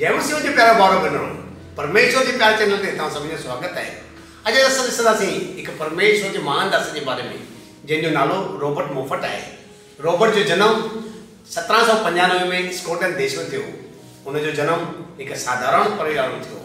جي مسيح جو پيارو ڀائرو ڀينرو، پرميشور جي پياري چئنل تي توهان سڀني جو سواگت آهي. اڄ اسان ڏسنداسين هڪ پرميشور جي مهان داس جي باري ۾ جنهن جو نالو روبرٽ موفٽ آهي. روبرٽ جو جنم سترهن سؤ پنجانوي ۾ اسڪوٽلنڊ ديش ۾ ٿيو هو. هن جو جنم هڪ ساڌارڻ پريوار ۾ ٿيو هو.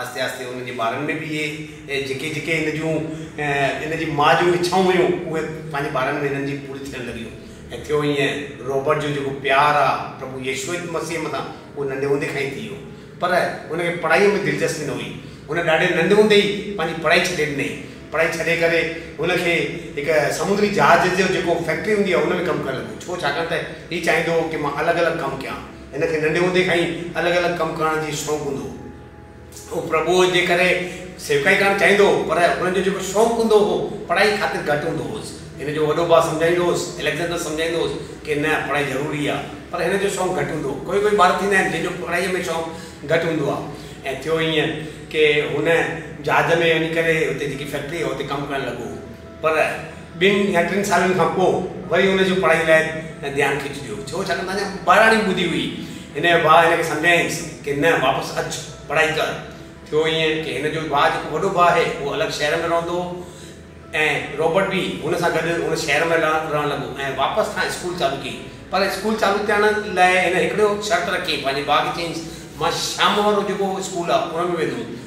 آهستي آهستي هن جي ٻارن ۾ به اهي جيڪي جيڪي هن جون هن جي ماء جون اڇائون هيون اهي پنهنجي ٻارن ۾ هنن جي پوري ٿيڻ لڳيون ۽ ٿيو ائين رابرٽ جو جيڪو پيار آهي پرڀو يسوع مسيح مٿان اهو ننڍي هوندي کان ئي ٿي ويو پر هن کي پڙهائي ۾ دلچسپي نه هئي هن ڏاڍي ننڍي هوندي ئي پنهنجي پڙهائي ڇڏي ڏني پڙهائي ڇڏي ڪري هن کي هڪ سمنڊي جهاز جو جيڪو فيڪٽري هوندي آهي ان ۾ ڪم ڪرڻ لڳو ڇو ڇاڪاڻ ته هي چاهيندو هو ڪي مان الڳ الڳ ڪم ڪيان. هن کي ننڍي هوندي کان ئي الڳ الڳ ڪم ڪرڻ جي شوق هوندو هو. هو پرڀوء جي ڪري سيوڪائي ڪرڻ چاهيندو هو، پر هن جو جيڪو شوق هوندو هو، پڙهائي خاطر گهٽ هوندو هوس. هن جو وڏو ڀاء سمجهائيندو هوس، اليگزينڊر سمجهائيندو هوس ڪي نه، پڙهائي ضروري آ، پر هن جو شوق گهٽ هوندو هو. ڪوئي ڪوئي ٻار ٿيندا آهن، جن جو پڙهائيء ۾ شوق گهٽ هوندو آ. ۽ ٿيو ائين ڪي هن جهاز ۾ وڃي ڪري هتي جيڪي فيڪٽري هئا، اتي ڪم ڪرڻ لڳو. پر ٻن يا ٽن سالن کان پوء وري هن جو پڙهائيء لاء ڌيان کچجيو ڇو؟ ڇاڪاڻ ته اڃا ٻاراڻي ٻڌي هئي. هن جو ڀاء هن کي سمجهايائينس ڪي نه واپس اچ پڙهائي ڪر. ٿيو ائين ڪي هن جو ڀاء جيڪو وڏو ڀاء آهي اهو الڳ شهر ۾ رهندو هو ۽ رابرٽ به هن سان گڏ ان شهر ۾ رهڻ لڳو ۽ واپس کان اسڪول چالو ڪيئي پر اسڪول چالو ٿيڻ لاء هن هڪڙو شرط رکيئي پنهنجي ڀاء کي چيائينس مان شام وارو جيڪو اسڪول آهي ان ۾ ويندوم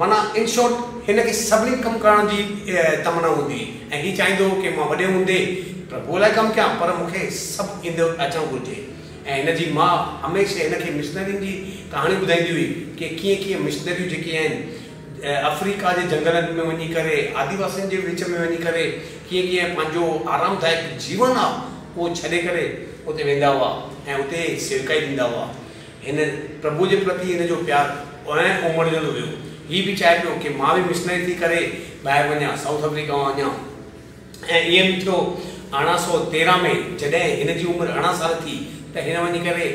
معنيٰ ان شارٽ هن کي سڀني ڪم ڪرڻ جي تمنا هوندي هئي ۽ هي چاهيندو هو ڪي مان وڏي هوندي پرڀوء لاء ڪم ڪيان پر مونکي سڀ ايندو اچڻ گهرجي ۽ هن جي ماء هميشه هن کي مشنرين جي ڪهاڻيون ٻڌائيندي هئي ڪي ڪيئن ڪيئن مشنريون جيڪي آهن افريڪا جي جنگلن ۾ وڃي ڪري آديواسين جي وچ ۾ وڃي ڪري ڪيئن ڪيئن پنهنجو آرام دائڪ جيون آهي اهو ڇڏي ڪري اتي ويندا هئا ۽ اتي سيوڪائي ڏيندا هئا. هن پرڀو جي پرتي هن جو پيار ائين امڙجندو ويو. هي به چاهي پيو ڪي مان به مشنري ٿي ڪري ٻاهر وڃان، سائوٿ آفريڪا وڃان ۽ ائين به ٿيو ارڙهن سؤ تيرنهن ۾ جڏهن هن جي عمر ارڙهن سال ٿي ته هن وڃي ڪري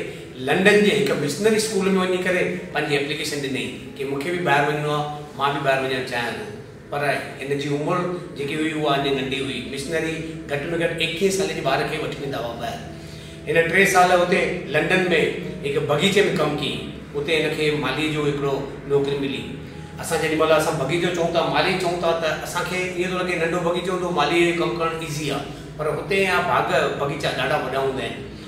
لنڊن جي هڪ مشنري اسڪول ۾ وڃي ڪري پنهنجي اپليڪيشن ڏني ڪي مون کي به ٻاهر وڃڻو آهي، مان به ٻاهر وڃڻ چاهيان ٿو. پر هن جي عمر جيڪي هئي اها اڃ ننڍي هئي. مشنري گهٽ ۾ گهٽ ايڪيهين سالي جي ٻار کي وٺي ويندا هئا ٻاهر. هن ٽي سال اتي لنڊن ۾ هڪ بغيچي ۾ ڪم ڪيئين. اتي هن کي مالهي جو هڪڙو نوڪري ملي. اسان جيڏي مهل اسان بغيچو چئون ٿا، مالهي چئون ٿا ته اسان کي ائين ٿو لڳي ننڍو بغيچو هوندو، مالهيء جو ڪم ڪرڻ ايزي آهي. پر هتي يا ڀاڳ بغيچا ڏاڍا وڏا هوندا آهن.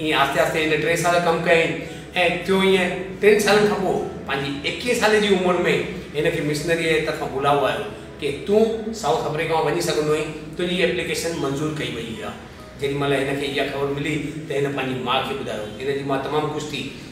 ائين آهستي آهستي هن ٽي سال ڪم ڪيائين ۽ ٿيو ائين ٽن سالن کان پوء پنهنجي ايڪيهين سالي جي عمر ۾ هن کي مشنريء جي طرفان بلاوو آيو ڪي تون سائوٿ آفريڪا ۾ وڃي سگهندو آهين تنهنجي ايپليڪيشن منظور ڪئي وئي آهي جيڏي مهل هن کي اها خبر ملي ته هن پنهنجي ماء کي ٻڌايو هن جي ماء تمام خوش ٿي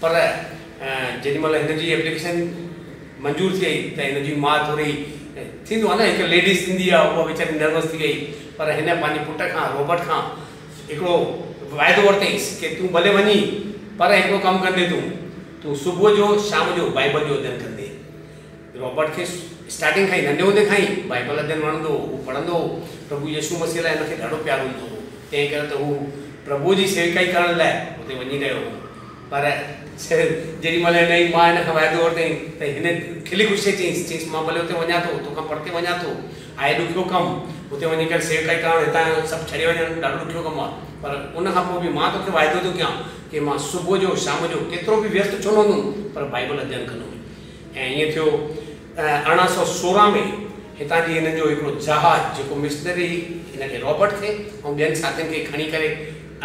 پر جيڏي مھل ھن جي ايپليڪيشن منظور ٿئي ته ھن جي ماء ٿوري ٿيندو آھي نه ھڪ ليڊيز ٿيندي آھي اھا ويچاري نروس ٿي وئي پر ھن پنھنجي پٽ کان روبرٽ کان ھڪڙو وعدو ورتئيس ڪي تون ڀلي وڃي پر ھڪڙو ڪم ڪندي تون تون صبح جو شام جو بائيبل جو اڌين ڪندي. رابرٽ کي اسٽارٽنگ کان ئي، ننڍي هوندي کان ئي، بائيبل اڌين وڻندو هو. هو پڙهندو هو. پرڀو يسوع مسيح لاء هن کي ڏاڍو پيار هوندو هو. تنهن ڪري ته هو پرڀوء جي سيوڪائي ڪرڻ لاء اتي وڃي رهيو هو. پر جيڏي مهل هن جي ماء هن کان وعدو ورتائين ته هن کلي خوشيء چيس، چيس، مان ڀلي اتي وڃان ٿو، توکان پرتي وڃان ٿو. آهي ڏکيو ڪم، اتي وڃي ڪري سيوڪائي ڪرڻ، هتان جو سڀ ڇڏي وڃڻ ڏاڍو ڏکيو ڪم آهي. پر ان کان پوء به مان توکي وعدو ٿو ڪيان ڪي مان صبح جو شام جو ڪيترو به ويست ڇو نه هوندم پر بائيبل اڌين ڪندو هوس. ۽ ائين ٿيو ته ارڙهن سؤ سورهن ۾ هتان جي هنن جو هڪڙو جهاز جيڪو مشنري هن کي رابرٽ کي ۽ ٻين ساٿين کي کڻي ڪري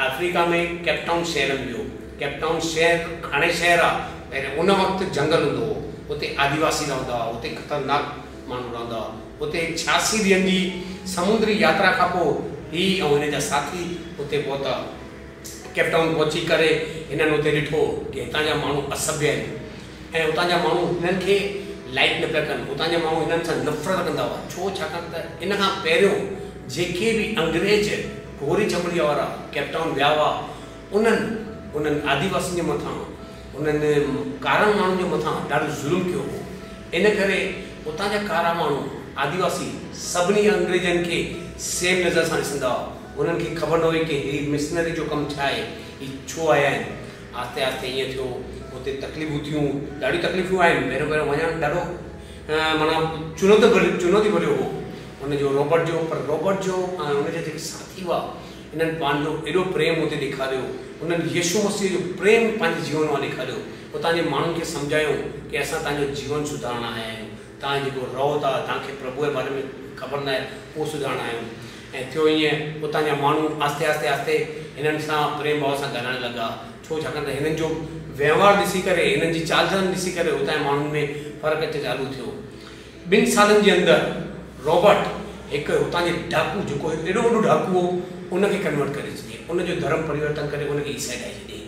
آفريڪا ۾ ڪيپ ٽائون شهر ۾ ويو. ڪيپ ٽائون شهر هاڻي شهر آ پهرين ان وقت جهنگل هوندو هو. اتي آديواسي رهندا هئا. اتي خطرناڪ ماڻهو رهندا هئا. اتي ڇياسي ڏينهن جي سمنڊري ياترا کان پوء هي ۽ هن جا ساٿي اتي پهتا. ڪيپ ٽائون پهچي ڪري هنن اتي ڏٺو ته هتان جا ماڻهو اسڀي آهن. ۽ اتان جا ماڻهو هنن کي لائيڪ نه پيا ڪن، اتان جا ماڻهو هنن سان نفرت رکندا هئا، ڇو ڇاڪاڻ ته ان کان پهريون جيڪي به انگريز گوري چمڙيء وارا ڪيپ ٽائون ويا هئا انهن انهن آديواسين جي مٿان انهن ڪارن ماڻهن جي مٿان ڏاڍو ظلم ڪيو هو ان ڪري اتان جا ڪارا ماڻهو آديواسي سڀني انگريزن کي سيم نظر سان ڏسندا هئا، انهن کي خبر نه هئي ڪي هي مشنري جو ڪم ڇا آهي، هي ڇو آيا آهن، آهستي آهستي ائين ٿيو اتي تڪليفون ٿيون ڏاڍيون تڪليفون آيون پهريون پهريون وڃڻ ڏاڍو معنيٰ چنوتي ڀريو چنوتي ڀريو هو ان جو روبرٽ جو پر روبرٽ جو ۽ ان جا جيڪي ساٿي هئا انهن پنهنجو ايڏو پريم اتي ڏيکاريو انهن يشو مسيح جو پريم پنهنجي جيون مان ڏيکاريو اتان جي ماڻهن کي سمجهايو ڪي اسان تنهنجو جيون سڌارڻ آيا آهيون توهان جيڪو رهو ٿا، توهان کي پرڀوء جي باري ۾ خبر ناهي، اهو سڌارڻ آيو هوم. ۽ ٿيو ائين، اتان جا ماڻهو آهستي آهستي آهستي هنن سان پريم ڀاء سان ڳالهائڻ لڳا، ڇو ڇاڪاڻ ته هنن جو وهنوار ڏسي ڪري، هنن جي چال چلن ڏسي ڪري اتان جي ماڻهن ۾ فرق اچڻ چالو ٿيو. ٻن سالن جي اندر رابرٽ هڪ هتان جي ڊاڪو، جيڪو هڪ ايڏو وڏو ڊاڪو هو، ان کي ڪنورٽ ڪري ڇڏيائين، ان جو ڌرم پريورتن ڪري ان کي عيسائي ٺاهي ڇڏيائين.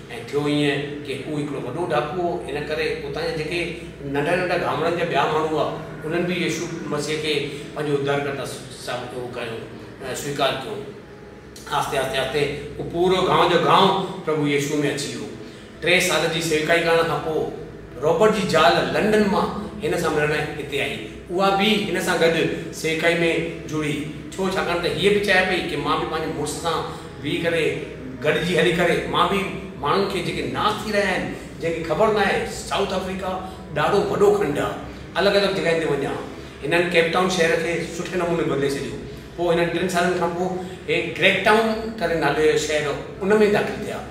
۽ ٿيو ائين ڪي هو هڪڙو وڏو ڊاڪو هو، ان ڪري اتان جا جيڪي ننڍا ننڍا گامڙن جا ٻيا ماڻهو هئا، انهن به يسوع مسيح کي پنهنجو ادڌارڪرتا سويڪار ڪيو. آهستي آهستي آهستي هو پورو گانء جو گانء پرڀو يسوع ۾ اچي ويو. ٽي سال جي سيوڪائي ڪرڻ کان پوء رابرٽ جي زال لنڊن مان هن سان ملڻ هتي آئي. اها به هن سان گڏ سيکائي ۾ جڙي. ڇو؟ ڇاڪاڻ ته هيء به چاهي پئي ڪي مان به پنهنجي مڙس سان ويهي ڪري گڏجي هلي ڪري مان به ماڻهن کي جيڪي ناس ٿي رهيا آهن، جنهن کي خبر ناهي سائوٿ آفريڪا ڏاڍو وڏو کنڊ آ، الڳ الڳ جڳهين تي وڃان. هنن ڪيپ ٽائون شهر کي سٺي نموني بدلي ڇڏيو. پوء هنن ٽن سالن کانپوء هي گريڪ ٽائون ڪري نالي جو شهر ان ۾ داخل ٿيا.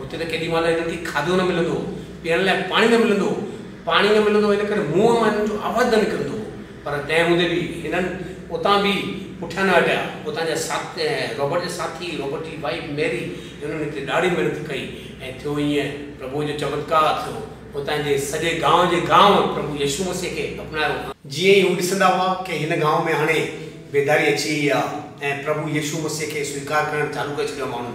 هتي ته ڪيڏي مهل هنن کي کاڌو نه ملندو هو، پيئڻ لاء پاڻي نه ملندو هو. پاڻي نه ملندو هو ان ڪري منهن مان هنن جو آواز نه نڪرندو هو. پر تنهن هوندي به هنن اتان به پٺيان نه هٽيا. اتان جا ساٿ رابرٽ جا ساٿي، رابرٽ جي وائيف ميري هنن هتي ڏاڍي محنت ڪئي ۽ ٿيو ائين پرڀوء جو چمتڪار ٿيو. هتان جي سڄي گانء جي گانء پرڀو يسوع مسيح کي اپنايو. جيئن ئي هو ڏسندا هئا ڪي هن گانء ۾ هاڻي بيداري اچي وئي آ ۽ پرڀو يسوع مسيح کي سويڪار ڪرڻ چالو ڪري ڇڏيو آ ماڻهن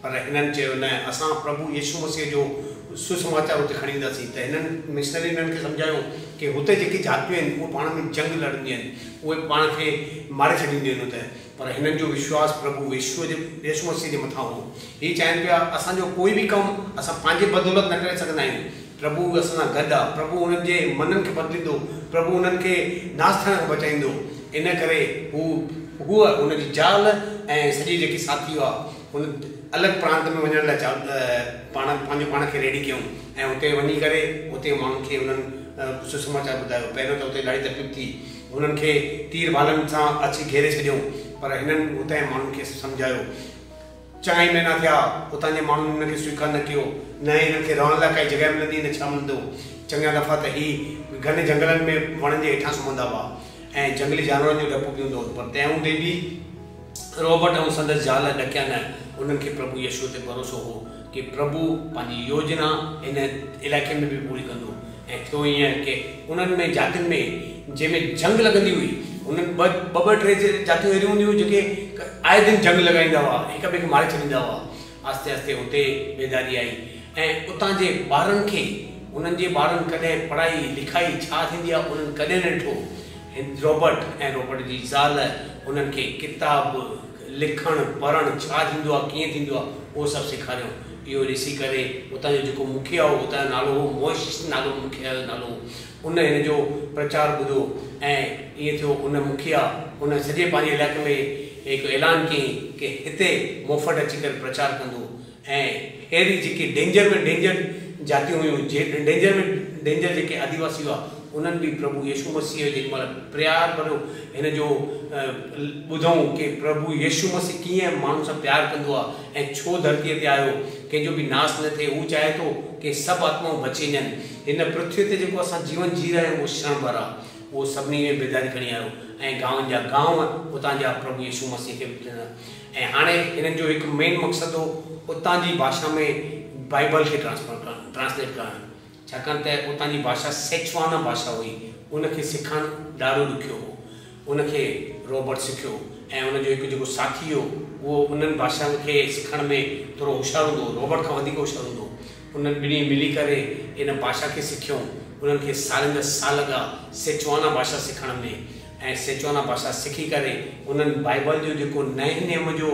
پر هنن چيو، نه، اسان پرڀو يسوع مسيح جو سسماچار اتي کڻي وينداسين. ته هنن، مشنرين، هنن کي سمجهايو ڪي هتي جيڪي جاتيون آهن، اهي پاڻ ۾ جنگ لڙنديون آهن، اهي پاڻ کي ماري ڇڏينديون آهن اتي. پر هنن جو وشواس پرڀو ويشوء جي، يسوع مسيح جي مٿان هو. هي چاهين پيا، اسان جو ڪوئي به ڪم اسان پنهنجي بدولت نه ڪري سگهندا آهيون. پرڀو اسان سان گڏ آهي. پرڀو هنن جي منن کي بدليندو. پرڀو هنن کي ناس ٿيڻ کان بچائيندو. ان ڪري هو، هوء، هن جي زال ۽ سڄي جيڪي ساٿي هئا، هن الڳ پرانت ۾ وڃڻ لاء پاڻ پنهنجو پاڻ کي ريڊي ڪيائون ۽ اتي وڃي ڪري اتي ماڻهن کي انهن سسماچار ٻڌايو. پهريون ته اتي ڏاڍي تڪليف ٿي. هنن کي تير ڀالن سان اڇي گهيري ڇڏيائون. پر هنن اتانهين ماڻهن کي سمجهايو. چئن ئي مهينا ٿيا. اتان جي ماڻهن هنن کي سويڪار نه ڪيو. نه ئي هنن کي رهڻ لاء ڪائي جڳهه ملندي نه ڇا ملندو. چڱا دفعا ته هي گهن جهنگلن ۾ وڻن جي هيٺان سمهندا هئا ۽ جهنگلي جانورن جو ڊپ به هوندو هن پر تنهن هوندي به رابرٽ ۽ سندس زال ڏڪيا نه، انهن کي پرڀو يسوع تي ڀروسو هو ڪي پرڀو پنهنجي يوجنا هن علائقي ۾ به پوري ڪندو ۽ ٿيو ائين ڪي انهن ۾ جاتين ۾ جنهن ۾ جنگ لڳندي هئي انهن ٻه ٻه ٽي جاتيون اهڙيون هونديون هيون جيڪي آئي دن جنگ لڳائيندا هئا هڪ ٻئي کي ماري ڇڏيندا هئا آهستي آهستي اتي بيداري آئي ۽ اتان جي ٻارن کي انهن جي ٻارن ڪڏهن پڙهائي لکائي ڇا ٿيندي آهي انهن ڪڏهن نه ڏٺو هن روبرٽ ۽ روبرٽ جي زال انهن کي ڪتاب لکڻ پڙهڻ ڇا ٿيندو آهي ڪيئن ٿيندو آهي اهو سڀ سيکاريائون اهو ڏسي ڪري اتان جو جيڪو مکيه هو اتان جو نالو هو موئشس نالو مکيه جو نالو هو ان هن جو پرچار ٻڌو ۽ ائين ٿيو ان مکيا ان سڄي پنهنجي علائقي ۾ هڪ اعلان ڪيائين ڪي هتي موفٽ اچي ڪري پرچار ڪندو ۽ ههڙي جيڪي ڊينجر ۾ ڊينجر جاتيون هيون جي ڊينجر ۾ ڊينجر جيڪي آديواسي هئا انهن به پرڀو يشو مسيح جيڏي مهل پريار ڀريو هن جو ٻڌئون ڪي پرڀو يشو مسيح ڪيئن ماڻهن سان پيار ڪندو آ ۽ ڇو ڌرتيء تي آيو ڪنهن جو به ناس نه ٿئي هو چاهي ٿو ڪي سڀ آتمائون بچي وڃن هن پرٿويء تي جيڪو اسان جيون جي رهيا آهيون اهو شڻ ڀر آهي، اهو سڀني ۾ بيداري کڻي آيو ۽ گانون جا گانون اتان جا پرڀو يسوع مسيح کي به ٽڻيا ۽ هاڻي هنن جو هڪ مين مقصد هو اتان جي ڀاشا ۾ بائيبل کي ٽرانسفر ڪرڻ، Translate، ڪرڻ ڇاڪاڻ ته اتان جي ڀاشا سيچوانا ڀاشا هئي، ان کي سکڻ ڏاڍو ڏکيو هو، ان کي روبرٽ سکيو ۽ ان جو هڪ جيڪو ساٿي هو اهو انهن ڀاشائن کي سکڻ ۾ ٿورو هوشيار هوندو هو، روبرٽ کان وڌيڪ هوشيار هوندو هو. انهن ٻنهي ملي ڪري ان ڀاشا کي سکيائون. انهن کي سالين جا سال لڳا سيچوانا ڀاشا سکڻ ۾ ۽ سيچوانا ڀاشا سکي ڪري انهن بائيبل جو جيڪو نئين نيم جو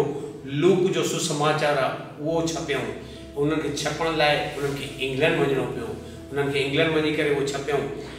لوڪ جو سسماچار آ اهو ڇپيائون. انهن کي ڇپڻ لاء انهن کي انگلنڊ وڃڻو پيو. انهن کي انگلنڊ وڃي ڪري اهو ڇپيائون.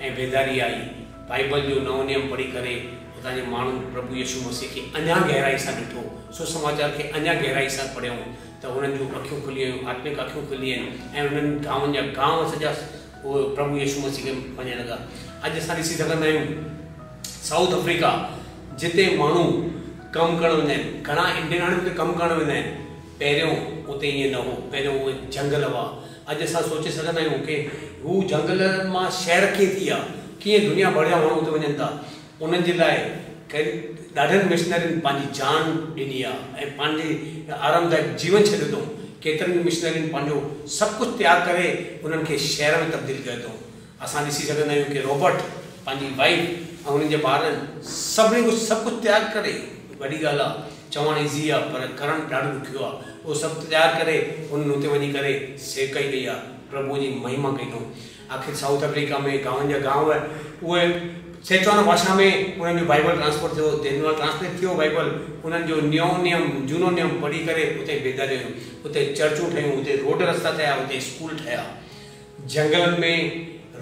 ۽ بيداري آئي. بائيبل جو نئون نيم پڙهي ڪري هتان جي ماڻهن پرڀو يسوع مسيح کي اڃا گهرائي سان ڏٺو. سسماچار کي اڃا گهرائي سان پڙهيائون ته هنن جون اکيون کلي ويون، آتمڪ اکيون کلي وين ۽ انهن گانون جا گانء سڄا پرڀو يسوع مسيح کي مڃڻ لڳا. اڄ اسان ڏسي سگهندا آهيون سائوٿ آفريڪا جتي ماڻهو ڪم ڪرڻ ويندا آهن، گهڻا انڊين هاڻي اتي ڪم ڪرڻ ويندا آهن، پهريون اتي ائين نه هو، پهريون اهي جهنگل هئا. اڄ اسان سوچي سگهندا آهيون ڪي هو جهنگل مان شهر ڪيئن ٿي ويا، ڪيئن دنيا ڀر جا ماڻهو اتي وڃن ٿا، انهن جي لاء ڪن ڏاڍن مشنرين پنهنجي جان ڏني آ ۽ پنهنجي آرامدائڪ جيون ڇڏيو اٿئون، ڪيترن ئي مشنرين پنهنجو سڀ ڪجهه تياگ ڪري انهن کي شهر ۾ تبديل ڪيو اٿئون، اسان ڏسي سگهندا آهيون ڪي روبرٽ پنهنجي وائيف ۽ هنن جي ٻارن سڀني ڪجهه سڀ ڪجهه تيار ڪري وڏي ڳالهه آهي چوڻ ايزي آهي پر ڪرڻ ڏاڍو ڏکيو آهي اهو سڀ تيار ڪري هنن اتي وڃي ڪري سيوڪائي ڪئي آهي پرڀوء جي مهيما ڪئي اٿئون آخر سائوٿ آفريڪا ۾ گانون جا گانو اهي اهي سيچوانو ڀاشا ۾ هنن جو بائيبل ٽرانسپورٽ ٿيو دينوال ٽرانسليٽ ٿيو بائيبل هنن جو نيو نيم جونو نيم پڙهي ڪري اتي بيداريون آيون اتي چرچون ٺهيون اتي روڊ رستا ٺهيا اتي اسڪول ٺهيا جهنگلن ۾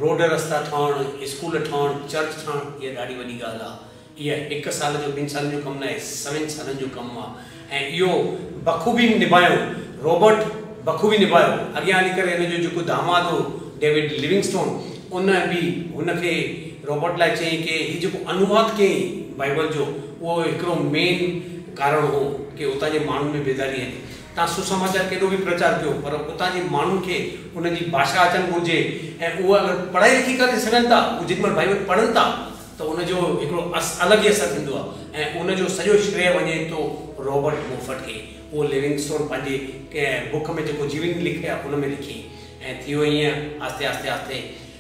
روڊ رستا ٺاهڻ، اسڪول ٺاهڻ، چرچ ٺاهڻ اها ڏاڍي وڏي ڳالهه آ. اها هڪ سال جو ٻن سالن جو ڪم ناهي، سوين سالن جو ڪم آ ۽ اهو بخوبي نڀايو رابرٽ بخوبي نڀايو. اڳيان هلي ڪري هن جو جيڪو داماد هو ڊيوڊ ليونگسٽون ان به هن کي رابرٽ لاء چيائين ڪي هي جيڪو انواد ڪيائين بائيبل جو اهو هڪڙو مين ڪارڻ هو ڪي هتان جي ماڻهن ۾ بيداري آندي. تان سسماچار ڪيڏو به پرچار ڪيو پر اتان جي ماڻهن کي ان جي ڀاشا اچڻ گهرجي ۽ اهي اگر پڙهائي لکي ڪري سگهن ٿا اهي جيڏي مهل ڀائي وٽ پڙهن ٿا ته ان جو هڪڙو الڳ ئي اثر ٿيندو آهي ۽ ان جو سڄو شريء وڃي ٿو رابرٽ موفٽ کي اهو ليونگسٽون پنهنجي بڪ ۾ جيڪو جيون لکي آهي ان ۾ لکي ۽ ٿيو ائين آهستي آهستي آهستي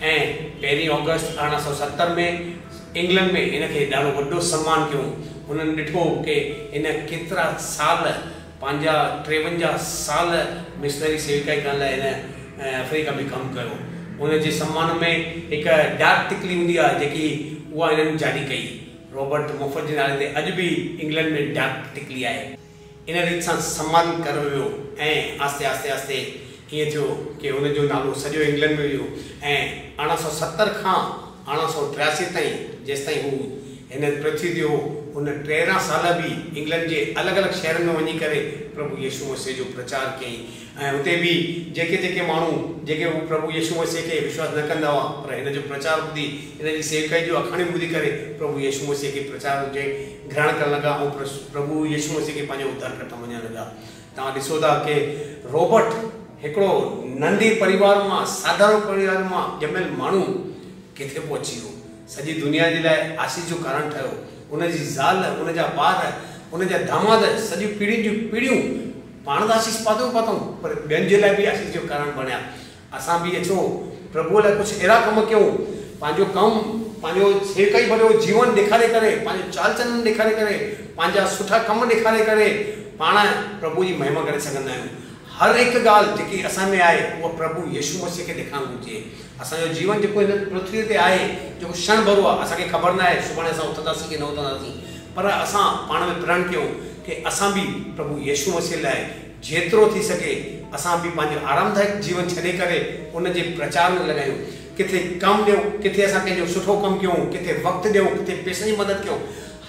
۽ پهرين آگسٽ ارڙهن سؤ ستر ۾ انگلنڊ ۾ هن کي ڏاڍو وڏو سمان ڪيون. هنن ڏٺو ڪي هن ڪيترا سال پنهنجا ٽيونجاهه سال مشنري سيوڪائي ڪرڻ لاء هن افريڪا ۾ ڪم ڪيو. هن جي سمان ۾ هڪ ڊاڪ ٽڪلي هوندي آهي جيڪي اها هنن جاري ڪئي. رابرٽ مفت جي نالي تي اڄ به انگلنڊ ۾ ڊاڪ ٽڪلي آهي. ان ريت سان سمن ڪرڻ ويو ۽ آھستي آھستي آھستي ائين ٿيو ڪي ان جو نالو سڄو انگلنڊ ۾ ويو ۽ ارڙهن سؤ ستر کان ارڙهن سؤ ٽياسي تائين جيستائين هو هن پرٿوي تي هو هن ٽيرنهن سال به انگلنڊ جي الڳ الڳ شهرن ۾ وڃي ڪري پرڀو يسوع مسيح جو پرچار ڪيائين ۽ هتي به جيڪي جيڪي ماڻهو جيڪي هو پرڀو يسوع مسيح کي وشواس نه ڪندا هئا پر هن جو پرچار ٻڌي هن جي سيوڪائي جون آکاڻيون ٻڌي ڪري پرڀو يسوع مسيح کي پرچار جي گرهڻ ڪرڻ لڳا ۽ پرڀو يسوع مسيح کي پنهنجو اڌارڪرتا مڃڻ لڳا توهان ڏسو ٿا ڪي روبرٽ هڪڙو ننڍي پريوار مان ساڌارڻ پريوار مان ڄميل ماڻهو ڪٿي پهچي ويو سڄي دنيا جي لاء آسيس جو ڪارڻ ٺهيو ان جي زال ان جا ٻار ان جا داماد سڄيون پيڙهين جون پيڙهيون پاڻ ته آسيس پاتئون پاتئون پر ٻين جي لاء به آسيس جو ڪارڻ بڻيا. اسان به اچو پرڀوء لاء ڪجهه اهڙا ڪم ڪيون، پنهنجو ڪم، پنهنجو سيوڪائي ڀريو جيون ڏيکاري ڪري، پنهنجو چال چلن ڏيکاري ڪري، پنهنجا سٺا ڪم ڏيکاري ڪري پاڻ پرڀوء جي مهما ڪري سگهندا آهيون. هر هڪ ڳالهه جيڪي اسان ۾ آهي اها پرڀو يسوع مسيح کي ڏيکارڻ گهرجي. اسان جو جيون جيڪو هن پرٿويء تي آهي جيڪو شڻ ڀرو آهي، اسان کي خبر ناهي سڀاڻي اسان اٿنداسين ڪي نه اٿنداسين. پر اسان پاڻ ۾ پرڻ ڪيون ڪي اسان به پرڀو يسوع مسيح لاء جيترو ٿي سگهي اسان به پنهنجو آرامدائڪ جيون ڇڏي ڪري ان جي پرچار ۾ لڳايون. ڪٿي ڪم ڏيون، ڪٿي اسان ڪنهن جو سٺو ڪم ڪيون، ڪٿي وقت ڏيون، ڪٿي پئسن جي مدد ڪيون.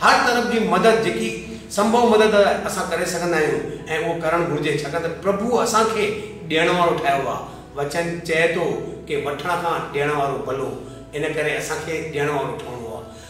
هر طرف جي مدد جيڪي سنڀو مدد اسان ڪري سگهندا آهيون ۽ اهو ڪرڻ گهرجي ڇاڪاڻ ته پرڀو اسان کي ڏيڻ وارو ٺاهيو آهي. وچن چئي ٿو ڪي وٺڻ کان ڏيڻ وارو ڀلو ان ڪري اسان کي ڏيڻ وارو ٺهڻو آهي.